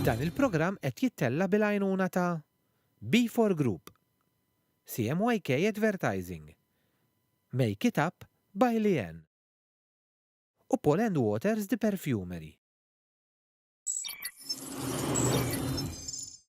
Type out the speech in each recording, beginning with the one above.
Dan il-programm qed jittella' bil-għajnuna ta' B4 Group, CMYK Advertising, Make It Up by Leanne u Paul and Waters The Perfumery.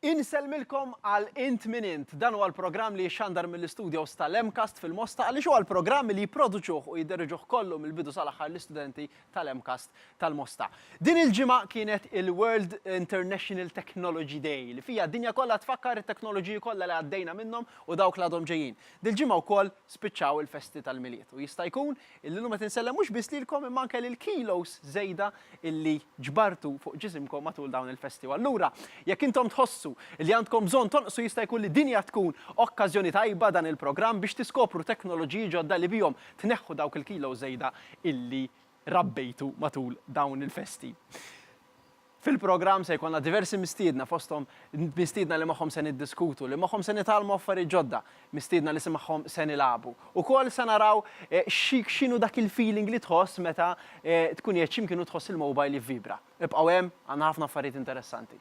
Insellmilkom għal Int Min Int, dan huwa l-programm li jixxandar mill-istudios tal-MCAST fil-Mosta għaliex huwa l-programm li jipproduċuh u jidderieġuh kollu mill-bidu sal-aħħar l-istudenti tal-MCAST tal-Mosta. Din il-ġimgħa kienet il-World International Technology Day li fiha d-dinja kollha tfakkar it-teknoloġiji kollha li għaddejna minnhom u dawk li għadhom ġejjin. Dil-ġimgħa wkoll spiċċaw il-festi tal-Milied u jista' jkun Illum qed insellem mhux biss lilkom imma anke lill-kilos żejda illi ġbartu fuq ġisimkom matul dawn il-festi u allura jekk intom tħossu li għandkom bżonn tonqsu jista' jkun li din hija tkun okkażjoni tajba dan il-programm biex tiskopru teknoloġiji ġodda li bihom tneħħu dawk il-kilos żejda illi rabbejtu matul dawn il-festi. Fil-programm se jkollna diversi mistiedna fosthom mistiedna li magħhom se niddiskutu, li magħhom se nitgħallmu affarijiet ġodda, mistiedna li magħhom se nilagħbu. Ukoll se naraw x'inhu dak il-feeling li tħoss meta tkun qiegħed xi mkien u tħoss il-mobile jivvibra. Ibqgħu hemm, għandna ħafna affarijiet interessanti.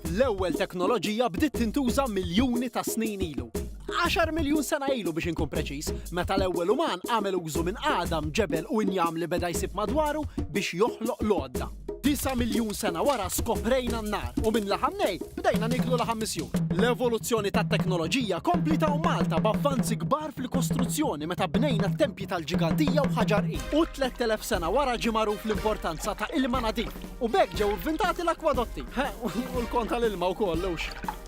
L-ewwel teknoloġija bdiet tintuża miljuni ta' snin ilu. Għaxar miljun sena ilu biex inkun preċiż, meta l-ewwel uman għamel użu minn għadam, ġebel u injam li beda jsib madwaru biex joħloq l-għodda. Disa' miljun sena wara skoprejna n-nar u minn laħam nej bdejna nieklu laħam misjur. L-evoluzzjoni tat-teknoloġija kompliet hawn Malta b'avvanzi kbar fil-kostruzzjoni meta bnejna t-tempji tal-ġigandija u ħaġar qil. U tlett elef sena wara ġie magħruf l-importanza ta' ilma nadif u b'hekk ġew ivvintati l-akwadotti. Eħ, u l-kon tal-ilma wkoll, hux?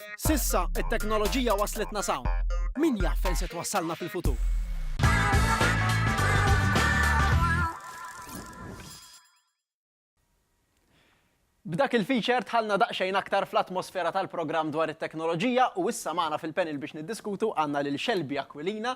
S'issa, it-teknoloġija wasslitna s'hawn. Min jaf fejn se twassalna fil-futur? B'dak il-feature dħalna daqsxejn aktar fl-atmosfera tal-programm dwar it-teknoloġija u issa magħna fil-panel biex niddiskutu għandna lil Shelby Aquilina,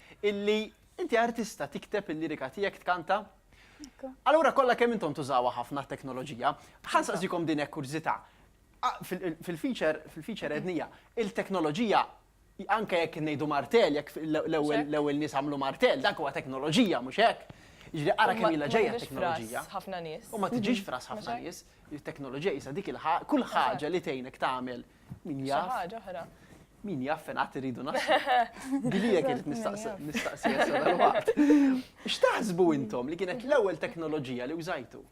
illi inti artista tikteb il-lirika tiegħek tkanta? Allura kollha kemm intom tużawha ħafna t-teknoloġija, ħansaqsikom din hekk kurżità. Fil-feature, fil-feature ednija, il-teknoloġija anke jekk ngħidu martell, jekk l-ewwel nies għamlu martell, dak huwa teknoloġija mhux hekk. Jiġri ara kemm ilha ġejja teknoloġija. Ħafna nies. U ma tiġix fras ħafna nies, it-teknoloġija isa dik il-ħaġa, kull ħaġa li tgħinek tagħmel Min jaf. Xi ħaġa oħra. Min jaf fejn qatt iridu naslu. Gilija kienet nistaqsi dal-waqt. X'taħsbu intom li kienet l-ewwel teknoloġija li użajtu?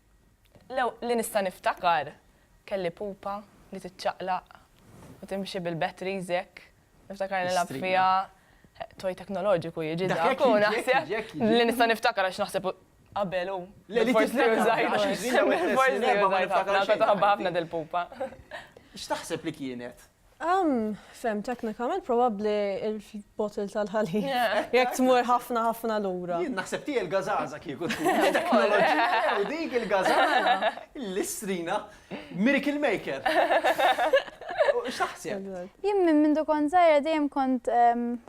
Li nista' niftakar kelli pupa li tiċċaqlaq u timxi bil-batteries hekk. Niftakar nilgħab fiha toj teknoloġiku jiġi dak u naħseb li nista' niftakar għax naħseb Qabel hu. Le li tibda tgħid għax il-villa wieħed li nerba' ma niftakar xejn. Tagħna taħba ħafna dil-pupa. X'taħseb li kienet? Fehmtek teknikament probabbli l-bottle tal-ħalib. Jekk tmur ħafna ħafna lura. Jien naħseb tiegħi l-gażaża kieku tkun it-teknoloġija jew dik il-gażaża, l-istrina, miracle maker. X'taħseb? Jien minn mindu kont żgħira dejjem kont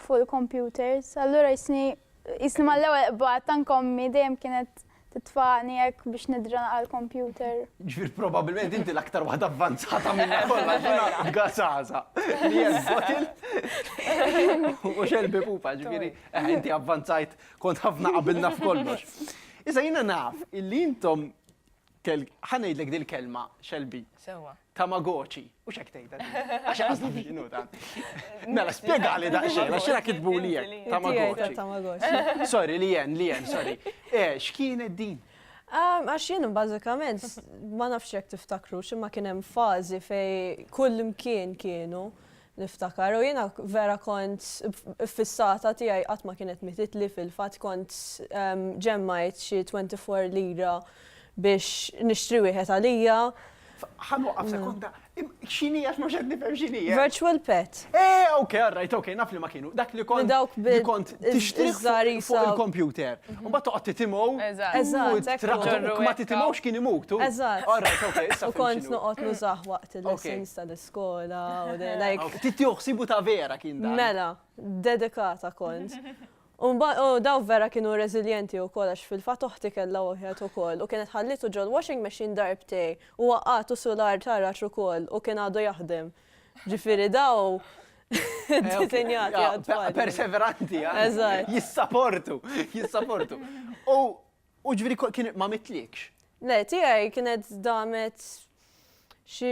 fuq il-computers, allura jistni Qisni mal-ewwel qbad tank ommi dejjem kienet titfagħni hekk biex nidranaq għall-kompjuter. Ġifieri probabbilment inti l-aktar waħda avvanzata minna kollha ġurnata b'gasaża. Li hija l-bottle. U xelbi pupa, ġifieri eħe inti avvanzajt kont ħafna qabilna f'kollox. Issa jiena naf illi intom Tel, ħa ngħidlek dil-kelma, Shelby. Sewwa. Tamagotchi. U x'hekk tgħidha din? Għax qasdi din hu tant. Mela, spjegali daqsxejn, għax jiena kitbuli hekk. Tiegħi ta' Tamagotchi. Tamagotchi. Sorry, li jen, li jen, sorry. Eh, x'kienet din? Ah, Għax jien bażikament s- ma nafx jekk tiftakrux imma kien hemm fażi fej kull imkien kienu Niftakar u jiena vera kont iffissata tiegħi qatt ma kienet mititli fil-fatt kont ġemmajt xi twenty four lira biex nixtri wieħed għalija. Ħa nwaqqaf sekonda. X'inhi għax mhux qed nifhem x'inhi. Virtual pet. Eh, ok, all right, ok, naf li ma kienu. Dak li kont li kont tixtri fuq il-kompjuter. U mbagħad toqgħod titimgħu. Eżatt. Eżatt. Ma titimgħux kien imutu. Eżatt. All right, ok. U kont noqgħod nużah waqt il-lessons tal skola, u de- like, Aw, ftit joħsibu ta' vera kien dan. mela, dedikata kont. U mba- u daw vera kienu reżiljenti u kol, għax fil-fat oħti kella wieħed u kol, u kienet ħallitu ġol washing machine darbtej, u waqqatu su l-art ħarax u kol, u kien għadu jaħdem. Ġifiri daw, disinjati Ja, għad-tfal. Perseveranti, ja. Eżatt. Jissaportu, jissaportu. U U ġifieri ko- kien ma mitlikx? Le, tiegħi kienet damet xi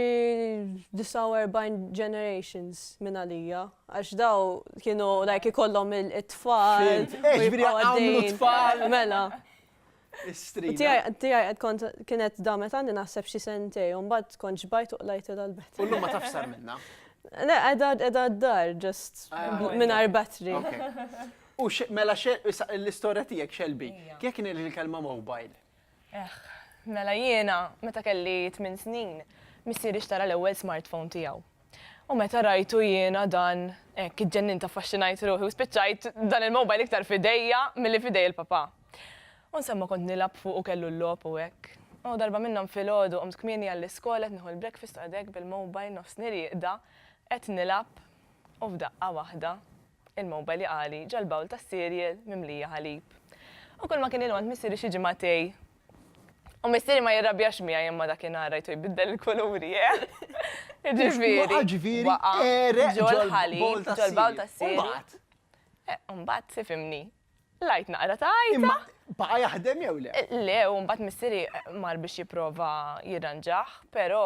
49 generations minn għalija. Għax daw kienu like ikollhom il- it-tfal. Fhimt. u Eh, ġifieri jibqgħu għamlu għaddejjin. tfal. Mela. U Istrina. Tiegħi tiegħi qed kont kienet damet għandi naħseb xi sentej u mbagħad kont xbajt u qlajtilha l-bet. U llum ma tafx sar minnha. Le, qiegħda qiegħda d-dar just Ah, mingħajr battery. Okay. U x, mela x, issa l-istorja tiegħek Shelby, kif kien il kelma mobile? Eħħ, mela jiena meta kelli tmien snin, missieri xtara l-ewwel smartphone tiegħu. U meta rajtu jiena dan, hekk iġġennint affaxxinajt ruħi u spiċċajt dan il-mobile iktar f'idejja milli f'idej il-papà. U nsomma kont nilgħab fuq u kellu l-logħob u hekk. U darba minnhom filgħodu qomt kmieni għall-iskola qed nieħu l-breakfast u qegħed hekk bil-mobile nofs nirieqda qed nilgħab u f'daqqa waħda Il-mowbel jaqali ġa l-bawl tas-cereal mimlija ħalib. U kulma kien il-għont missieri xi ġimgħa tej. U missieri ma jirrabjax miegħi imma dakinhar rajtu jbiddel il-kuluri, eeh! Jiġifieri, waqa' ġol-ħalib, ġol-bawl tas-cereal. Eeh, u mbagħad, tifhimni, lajt naqra ta' għajta. Imma baqa' jaħdem jew le? Le, u mbagħad missieri mar biex jipprova jirranġah, però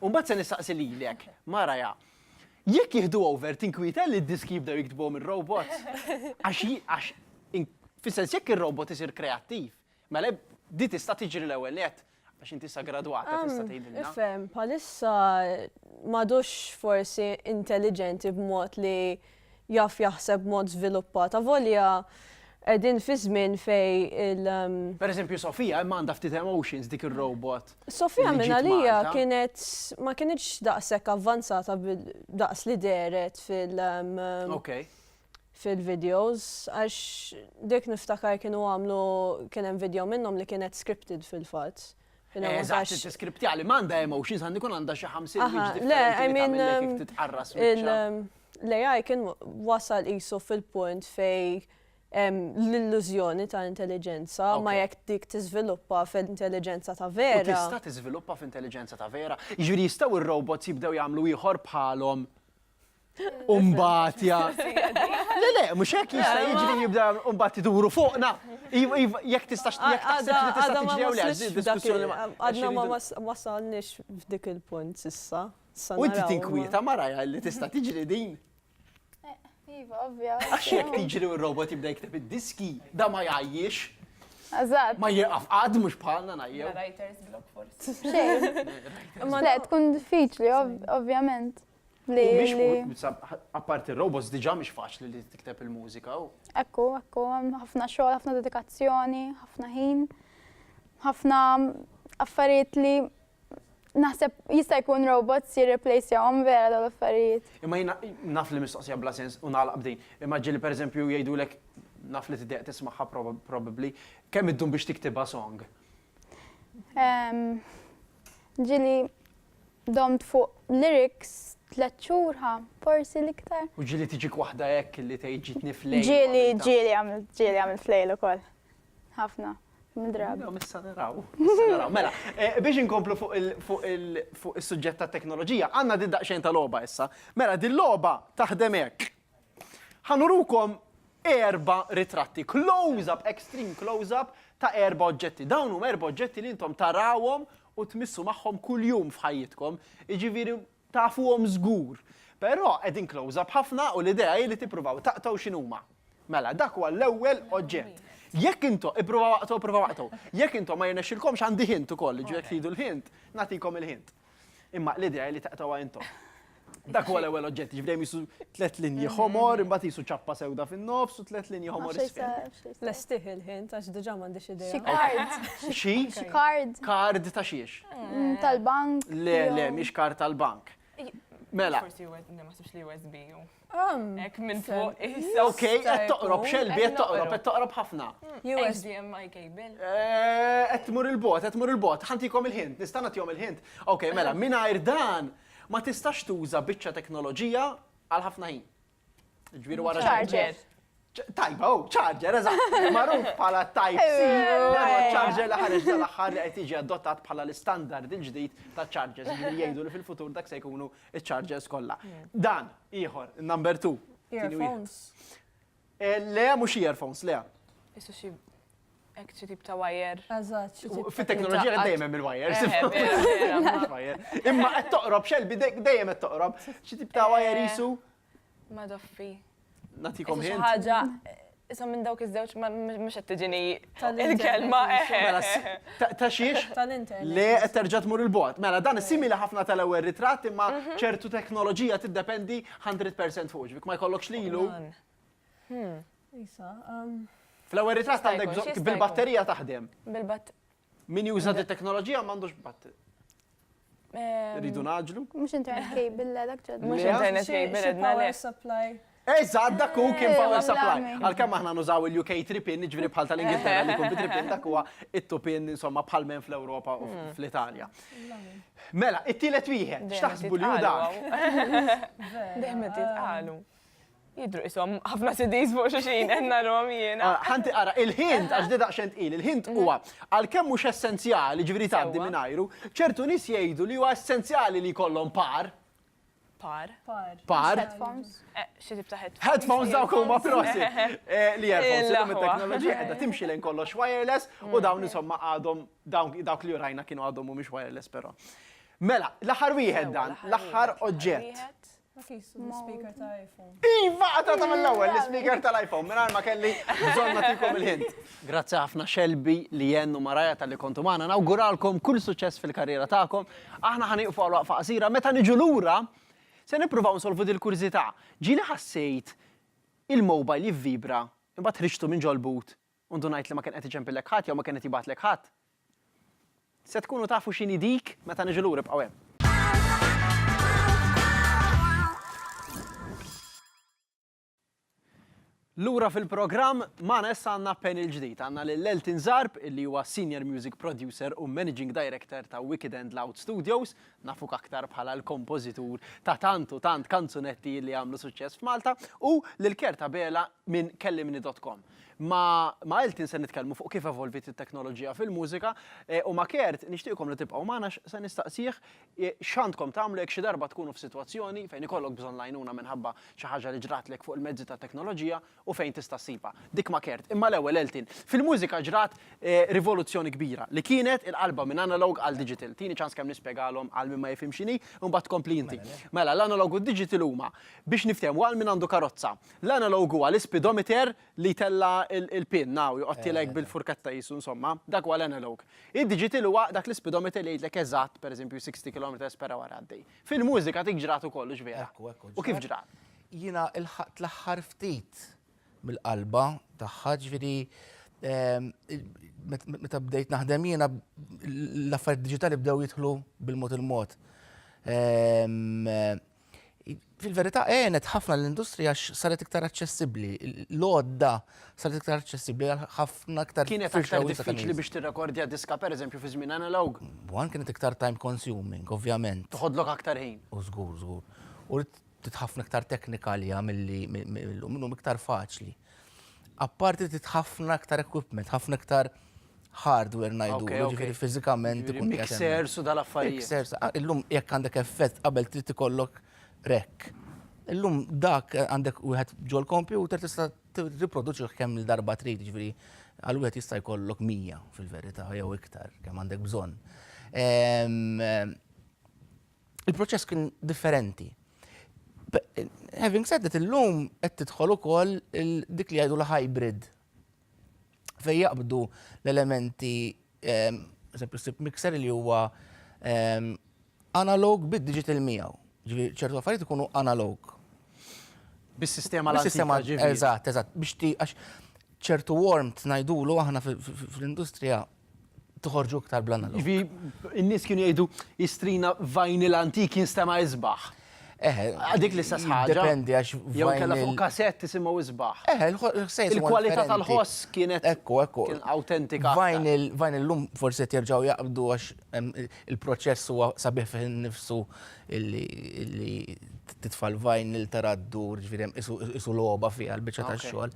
U mbagħad se nistaqsi lilek, Maraja, jekk jieħdu over tinkwieta li d-diski jibdew jiktbuhom ir-robots? Għax għax fis-sens jekk ir-robot isir kreattiv, mela di tista' tiġri l-ewwel nett għax inti issa gradwata tista' tgħidilna. Ifhem, bħalissa m'għadux forsi intelliġenti b'mod li jaf jaħseb b'mod żviluppat avolja qegħdin fi żmien fejn il. Pereżempju Sofia imma għandha ftit emotions dik ir-robot. Sofia minn għalija kienet ma kinitx daqshekk avvanzata daqs li dehret fil. Okay fil-videos, għax dik niftakar kienu għamlu kien hemm video minnhom li kienet scripted fil-fatt. Eżatt, it-tiskriptja li m'għandha hemm 20 sandi kun għandha xi 50 biex differenti titqarras L-AI kien wasal isu fil-punt fej l-illużjoni ta' intelligenza ma jekk dik tiżviluppa fil-intelligenza ta' vera. Tista' tiżviluppa f'intelligenza ta' vera. Jiġri jistgħu ir-robots jibdew jagħmlu ieħor bħalhom Umbat, ja. Le, le, mux hekk jista' jiġri jibda umbat iduru fuqna. Jek tistax jek taħseb li tista' tiġri jew le, Għadna ma wasalniex f'dik il-punt sissa. U inti tinkwieta maraja li tista' tiġri din. Eh, iva, ovvja. Għax jek tiġri u robot jibda jikteb id-diski, da ma jgħajjiex. Azad. Ma jieqaf għad mux bħalna najjew. Writers block forse. Xejn. Ma le, tkun diffiċli, ovvjament. U mhix apparti r-robots diġà mhix faċli li tikteb il-mużika. Ekku, ekku, ħafna xogħol, ħafna dedikazzjoni, ħafna ħin, ħafna affarijiet li naħseb jista' jkun robots jirreplace jahom vera dawn l-affarijiet. Imma jiena naf li mistoqsija bla sens u nagħlaq b'din. Imma ġieli pereżempju jgħidulek naf li tiddeq tismagħha probabbli, kemm iddum biex tiktibha song? Ġieli Domt fuq lyrics tliet xhur ħa, forsi l-iktar. U ġieli tiġik waħda hekk li tgħid ġietni f'lejl. Ġieli, ġieli għamilt, ġieli għamilt f'lejl ukoll. Ħafna. Mdrabi. Jew issa naraw. Issa naraw. Mela, biex inkomplu fuq is-suġġett tat-teknoloġija, għandna din daqsxejn ta' logħba issa. Mela, din logħba taħdem hekk. Ħa nurukom erba' ritratti, close up, extreme close up ta' erba' oġġetti. Dawn huma erba' oġġetti li intom tarawhom u tmissu magħhom kuljum f'ħajjitkom, jiġifieri tafuhom żgur. Però qegħdin close up ħafna u l-idea hi li tippruvaw taqtgħu x'inhuma. Mela, dak huwa l-ewwel oġġett. Jekk intom, ippruvaw aqtgħu, ippruvaw aqtgħu. Jekk intom ma jirnexxilkomx għandi hint ukoll, jiġifieri jekk tridu l-hint, nagħtikom il-hint. Imma l-idea li taqtawha intom. Dak huwa l-ewwel oġġett, ġifdejjem jisu tliet linji mhm. ħomor, imbagħad jisu ċappa sewda fin-nofs u tliet linji ħomor Lestih il-ħin għax diġà m'għandix idea. Xi kard. Xi? Xi kard. Kard ta' xiex? Mm, tal-bank. Le, le, mhix kard tal-bank. Mela. Forsi ma naħsibx li USB. Ek minn fuq. Ok, qed toqrob xelbi, qed toqrob, qed toqrob ħafna. HDMI cable. Eh, qed tmur il-bot, qed tmur il-bot. Ħantikom il-ħint, nista' nagħtihom il-ħint. Ok, mela, mingħajr dan ma tistax tuża biċċa teknoloġija għal ħafna ħin. Ġbir wara ċarġer. Tajba, oh, charger, eżatt, magħruf bħala Type C, dan huwa charger li ħareġ dal-aħħar li qed jiġi adottat bħala l-istandard il-ġdid ta' chargers li jgħidu li fil-futur dak se jkunu ċ-chargers kollha. Dan ieħor, number 2. Earphones. Eh, le, mhux earphones, le. Isu xi Ek xi tip ta' wire. Eżatt, xi tip. Fit-teknoloġija qed dejjem hemm il-wire. Imma qed toqrob xelbi dejjem qed toqrob. Xi tip ta' wire isu. Ma doffi. Natikom ħin. Ħaġa, isom minn dawk iż-żewġ ma mhux qed tiġini il-kelma. Mela, ta' xiex? Tal-internet. Le qed terġa' tmur il-bogħod. Mela, dan simili ħafna tal-ewwel ritratt imma mhm. ċertu teknoloġija tiddependi 100% fuq ġbik ma jkollokx lilu. Hmm. Isa, um, Fl-ewwel ritratt għandek bil-batterija taħdem. Bil-batterija. Min juża di teknoloġija m'għandux bat. Ehm, Ridu naġlu? Mux internet cable, la dak ġodda. Mux internet cable, edna le. supply. Eżad, dak u kien eh, power supply. Għal-kem aħna nużaw il-UK tripin, ġviri bħal tal-Ingilterra li kumbi tripin, dak huwa it-tupin, insomma, bħal men fl-Europa u hmm. fl-Italja. Mela, it-tielet wieħed, xtaħsbu li u dak? Dejmet jitqalu. Jidhru qishom ħafna CDs fuq xulxin qed narahom jiena. Ah, ħanti ara, il-ħin għax di daqsxejn tqil, il-ħin mhm. huwa għalkemm mhux essenzjali, ġifieri tgħaddi mingħajru, ċertu nies jgħidu li huwa essenzjali li jkollhom par. Par. Par. Headphones. Eh, xi tip ta' headphones. Headphones dawk huma prosi. Eh, li headphones illum it-teknoloġija qiegħda timxi lejn kollox wireless u mm. dawn insomma għadhom dawk li urajna kienu għadhom mhumiex wireless però. Mela, l-aħħar wieħed dan, l-aħħar oġġett. Speaker ta' iPhone. Iva, għata ta' mill-ewel, l-speaker tal-iPhone, minn ma kelli bżonna tikom il-ħint. Grazzi ħafna xelbi li jennu maraja tal-li kontu maħna, nawguralkom kull suċess fil-karriera ta'kom. Aħna ħaniqfu għal waqfa qasira, meta niġu l-ura, se nipruvaw nsolvu dil-kurzita. Ġili ħassejt il-mobile jivvibra, imbat ħriġtu minn ġol-but u ndunajt li ma kien qed iċempillek ħadd jew ma kien qed jibgħatlek ħadd. Se tkunu tafu x'inhi dik meta niġu lura ibqgħu hemm. Lura fil-programm magħna issa għandna panel ġdid. Għandna lil Elton Zarb illi huwa Senior Music Producer u Managing Director ta' Wicked and Loud Studios nafuk aktar bħala l-kompożitur ta' tant u tant kanzunetti li għamlu suċċess f'Malta, u lil Kert Abela minn Kellimni dot com. Ma' ma' Elton se nitkellmu fuq kif evolviet it-teknoloġija fil-mużika, u ma' Kert nixtieqkom li tibqgħu magħna għax se nistaqsih x'għandkom tagħmlu jekk xi darba tkunu f'sitwazzjoni fejn ikollok bżonn l-għajnuna minħabba xi ħaġa li ġratlek fuq il-mezzi tat-teknoloġija, u fejn tista' ssibha dik ma' Kert. Imma l-ewwel Eltin. Fil-mużika ġrat rivoluzzjoni kbira li kienet il-qalba minn analog għal digital. Tini ċans kemm nispjegalhom għal min ma jifhimx x'inhi u mbagħad tkompli inti. Mela, l-analog u d-digital huma, biex niftehmu, għal min għandu karozza. L-analog huwa l-ispidomiter li jtella' il-pinna u jqoddtilek bil-furketta qisu insomma. Dak huwa l-analog. Id-digital huwa dak l-ispidomiter li jgħidlek eżatt, pereżempju, 60 kilometers per hour għaddej. Fil-mużika dik ġrat ukoll, hux vera? U kif ġrat? Jiena lħaqt l-aħħar ftit mill-qalba tagħha, ġifieri meta bdejt naħdem jiena l-affarijiet diġitali bdew jidħlu bil-mod il-mod. Fil-verità għenet ħafna lill-industrija għax saret iktar aċċessibbli, l-għodda saret iktar aċċessibbli għal ħafna iktar firxa wiesgħa ta' nies. Kienet aktar diffiċli biex tirrekordja diska pereżempju fi żmien analog? One kienet iktar time consuming, ovvjament. Toħodlok aktar ħin. U żgur, żgur. U Ftit ħafna iktar teknika għaliha milli llum, illum iktar faċli. Apparti ftit ħafna iktar equipment, ħafna iktar hardware najdu, ġifiri fizikament ikun. Mixer su dal-affarijiet. Mixer, ah, illum jekk għandek effett qabel trid ikollok rek. Illum dak għandek wieħed ġol kompjuter tista' riproduċi kemm il-darba trid, ġifiri għal wieħed jista' jkollok mija fil-verità jew iktar kemm għandek bżonn. Ehm, il-proċess kien differenti. Having said that, illum qed tidħol ukoll dik li jgħidu l-hybrid. Fej jaqbdu l-elementi ehm, sepp mixer li huwa ehm, analog bid-digital miegħu. Ġifieri ċertu affarijiet ikunu analog. Bis-sistema l-sistema ġifieri. Eżatt, eżatt, biex ti għax ċertu warm tnajdulu aħna fl-industrija toħorġu iktar bl-anna. Ivi, n-nies kienu jgħidu jistrina vajnil antik jinstema' isbaħ. Eħe. Għadik li stess ħaġa. Dependi għax. Jew kella fuq kasett tisimgħu isbaħ. Eħe, l-ħsejs. Il-kwalità tal-ħoss kienet. Ekku, ekku. Autentika. Vajnil, vajnil lum forse terġaw jaqbdu għax il-proċess huwa sabiħ fih nifsu illi titfal vajnil taraddu, ġvirem, isu loba fiha l-bicċa tax-xogħol.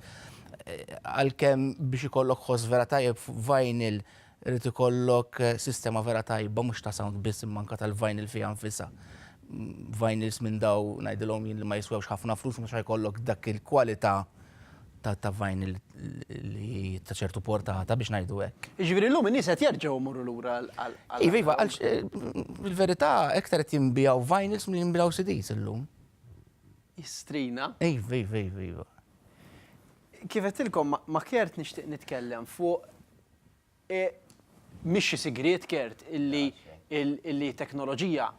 għalkemm biex ikollok ħoss vera tajjeb f'vinyl irid ikollok sistema vera tajba mhux ta' sound biss imma anke tal-vinyl fiha nfisha. Vinyls minn daw ngħidilhom jien li ma jiswewx ħafna flus mhux ħa jkollok dak il-kwalità ta' vinyl li ta' ċertu portata biex ngħidu hekk. Jiġifieri llum in-nies qed jerġgħu jmorru lura għal. Iva, iva, għaliex fil-verità iktar qed jinbiegħu vinyls milli jinbiegħu CDs illum. Jistrina. Iva, iva, iva, iva. Kif għedtilkom ma' Kert nixtieq nitkellem fuq mhix xi sigriet Kert illi teknoloġija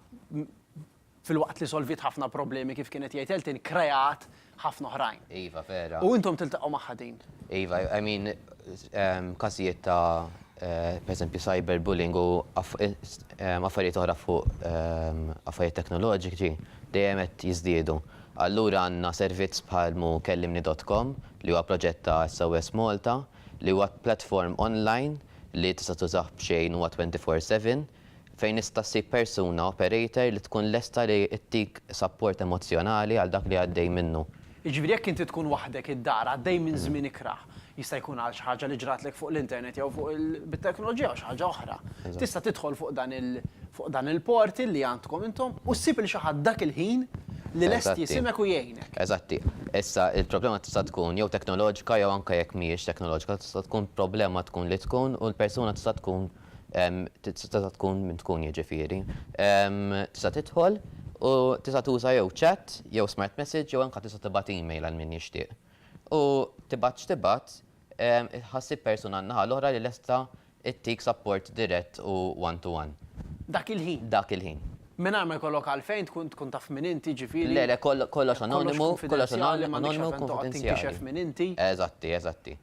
filwaqt li solviet ħafna problemi kif kien qed jgħid Elton kreat ħafna oħrajn. Iva vera. U intom tiltaqgħu magħha din. Iva, I mean każijiet ta' pereżempju cyber bullying u affarijiet oħra fuq affarijiet teknoloġiċi dejjem qed jiżdiedu. Allura għandna servizz bħal mu kellimni dot com li huwa proġett ta' SOS Malta li huwa platform online li tista' tużah b'xejn huwa twenty four seven fejn tista' ssib persuna, operator, li tkun lesta li ttik sapport emozzjonali għal dak li għaddej minnu. Jiġifieri jekk inti tkun waħdek id-dar għaddej minn żmien ikrah, Jista' jkun għal xi ħaġa li ġratlek fuq l-internet jew fuq bit-teknoloġija jew xi ħaġa oħra. Tista' tidħol fuq dan il fuq dan il-portal li għandkom intom u ssib lil xi ħadd dak il-ħin li lest jisimek u jgħinek. Eżatti. Issa il-problema tista' tkun jew teknoloġika jew anke jekk mhijiex teknoloġika tista' tkun problema tkun li tkun u l-persuna tista' tkun tista' tkun min tkun jiġifieri. Tista' tidħol u tista' tuża jew chat jew smart message jew anke tista' tibgħat email għal min jixtieq. U tibgħat x'tibgħat, ħassib persuna n-naħa l-oħra li lesta ttik sapport dirett u one-to-one. Dak il-ħin. Dak il-ħin. Mingħajr ma jkollok għalfejn tkun tkun taf min inti, ġifieri. Le, le, kollox anonimu, kollox anonimu u kunfidenzjali. Eżatti, eżatti.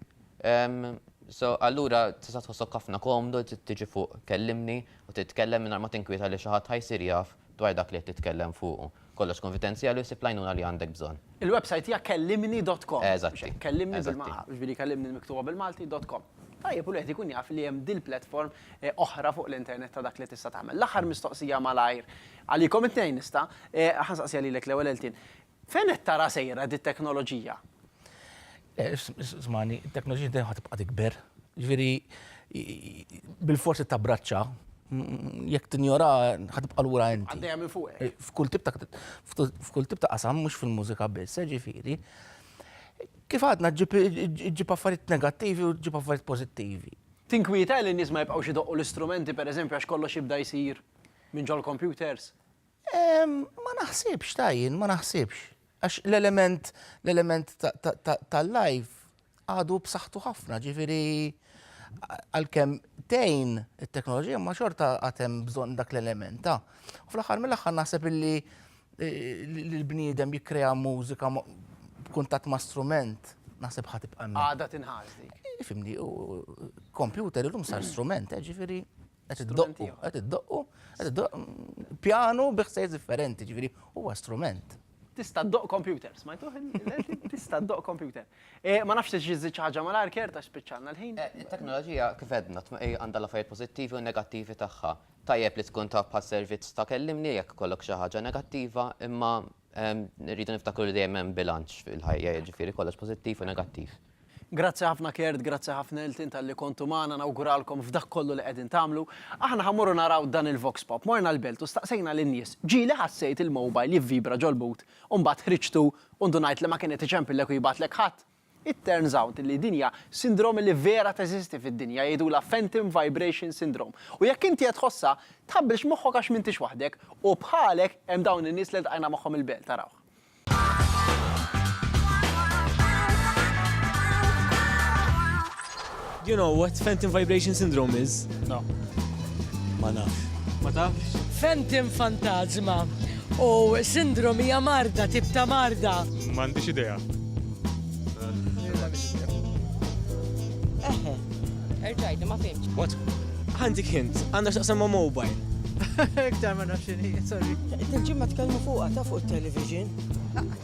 So, allura tista' tħossok ħafna komdu tiġi fuq kellimni u titkellem mingħajr ma tinkwieta li xi ħadd ħa jsir jaf dwar dak li qed titkellem fuqu. Kollox konfidenzjali u ssib l-għajnuna li għandek bżonn. Il-website hija kellimni dot com. Eżatti. Kellimni bil-ma, jiġifieri kellimni miktuba bil-Malti, dot com. Tajjeb u l-wieħed ikun jaf li hemm dil-platform oħra fuq l-internet ta' dak li tista' tagħmel. L-aħħar mistoqsija malajr, għalikom it-tnejn nista', ħa nsaqsiha lilek l-ewwel Eltin. Fejn qed tara sejra dit-teknoloġija? Smani, it-teknoloġija dejjem ħa tibqa' tikber. Jiġifieri bilfors trid tabbraċċa, jekk tinjora ħa tibqa' lura inti. Għaddejja minn fuqek. F'kull tip ta' qasam mhux fil-mużika biss, jiġifieri kif għadna ġġib affarijiet negattivi u ġġib affarijiet pożittivi. Tinkwieta li n-nies ma jibqgħux idoqqu l-istrumenti pereżempju għax kollox jibda jsir minn ġol-kompjuters? Ma naħsibx, ta' jien, ma naħsibx. Għax l-element, l-element tal-live għadu b'saħħtu ħafna, ġifiri għal-kem tejn il-teknoloġija ma xorta għatem bżon dak l-element ta' u fl-axar mill-axar naħseb illi eh, l-bniedem jikrea mużika b'kuntat ma' strument naħseb ħatib għamma. Għada tinħazdi. Fimni, kompjuter il-lum sar strument, eh, ġifiri Qed iddoqqu, qed iddoqqu, qed iddoqqu pjanu bi ħsejs differenti, ġifieri huwa strument. Tista' ddoq computer, smajtuh tista' ddoq computer. Eh, ma nafx tiġi ħaġa mal-arker ta' spiċċalna l-ħin. Eh, it-teknoloġija kif edna eh, għandha l-affarijiet pożittivi u negattivi tagħha. Tajjeb li tkun taf bħas-servizz ta' kellimni jekk kollok xi ħaġa negattiva, imma Irridu niftakru li dejjem hemm bilanċ fil-ħajja, jiġifieri kollox pożittiv u negattiv. Grazzi ħafna Kurt, grazzi ħafna lil Tim talli kontu magħna, nawguralkom f'dak kollu li qegħdin tagħmlu. Aħna ħa mmorru naraw dan il-Vox Pop. Morna l-Belt u staqsejna lin-nies, ġieli ħassejt il-mobile jivvibra ġol-but u mbagħad ħriġtu u ndunajt li ma kien qed iċempillek u jibgħatlek ħadd? It turns out li din hija sindrome li vera teżisti fid-dinja, jgħidulha phantom vibration syndrome. U jekk inti qed tħossha, tħabbilx moħħok għax m'intix waħdek, u bħalek hemm dawn in-nies li ltqajna magħhom il-belt, arawh. Do you know what phantom vibration syndrome is? No. Ma nafx. Ma tafx? Phantom fantasma u sindrom hija marda, tip ta' marda. M'għandix idea. Eħe. Erġajt, ma fimx. What? Għandik hint, għandha x'taqsam ma' mobile. Iktar ma nafx x'inhi, sorry. Il-ġimma tkellmu fuqha ta' fuq it-television.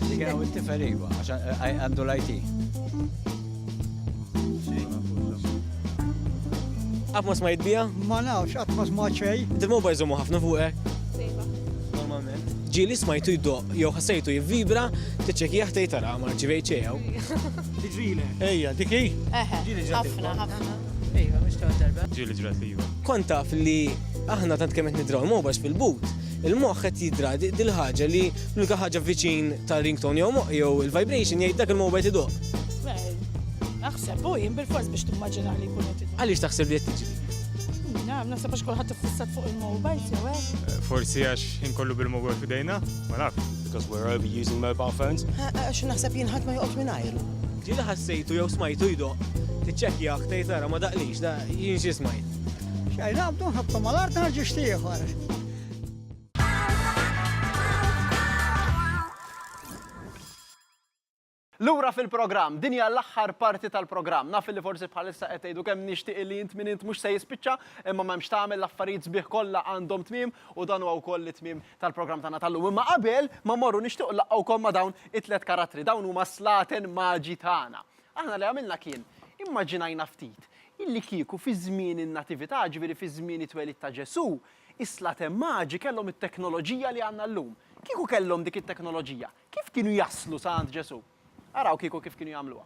Dik hawn it-tifel iva, għax għandu l-IT. Atmos ma jitbija? Ma nafx, atmos ma ċej. Dil-moba jżommu ħafna fuqek? Normalment. Ġili smajtu jiddoq, jew ħassejtu jivvibra, tiċċekija ħtej tara ma ġivej ċejaw. Tiġrile. Ejja, diki? Eħe, ħafna, ħafna. Ejja, mux ta' darba. Ġili ġrat li Kont taf li aħna tant kemm qed nidraw mobax fil-but, Il-moħħ qed jidra dil-ħaġa li l-unika ħaġa viċin tar-ringtone jew moħħ jew il-vibration jgħid dak il-mowbajl iduq. Naħseb u jien bil-fors biex timmaġina li jkun qed Għaliex taħseb li qed tiġri? Naf, naħseb għax kulħadd iffissat fuq il-mowbajl jew hekk. Eh, forsi għax inkollu bil-mowbajl f'idejna, ma naf. Because we're over using mobile phones. Għax naħseb jien ħadd ma joqgħodx minn ajru. Ġieli ħassejtu jew smajtu jdoq, tiċċekkja aktar tara ma daqlix, da jien xi smajt. Xejn għabdu nħabtu mal-art narġu xtieħor. Lura fil-programm, din hija l-aħħar parti tal-programm. Naf li forsi bħalissa qed tgħidu kemm nixtieq li int min int mhux se jispiċċa, imma m'hemmx tagħmel l-affarijiet sbieħ kollha għandhom tmiem u dan huwa wkoll it-tmiem tal-programm tagħna tal-lum. Imma qabel ma morru nixtieq laqgħukom ma' dawn it-tlet karattri, dawn huma slaten maġi tagħna. Aħna li għamilna kien, immaġinajna ftit, illi kieku fi żmien in-Natività, jiġifieri fi żmien it-twelid ta' Ġesù, is-slaten maġi kellhom it-teknoloġija li għandna llum. Kieku kellhom dik it-teknoloġija, kif kienu jaslu sa għand Ġesù? Araw kieku kif kienu jagħmluha.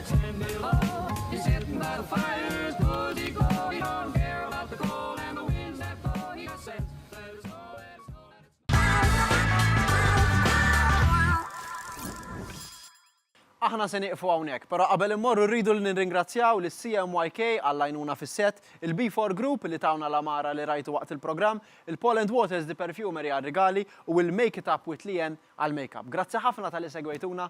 Aħna se nieqfu hawnhekk, però qabel immorru rridu li nirringrazzjaw lis CMYK għall-għajnuna fis-set, il-B4 Group li tawna l-għamara li rajtu waqt il-programm, il-Poland Waters di Perfumery għar-rigali u l-Make It Up with Leanne għall-makeup. Grazzi ħafna talli segwejtuna!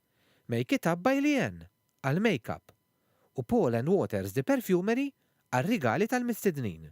Make It Up by Leanne għall-makeup u Paul and Waters The Perfumery għar-rigali tal-mistednin.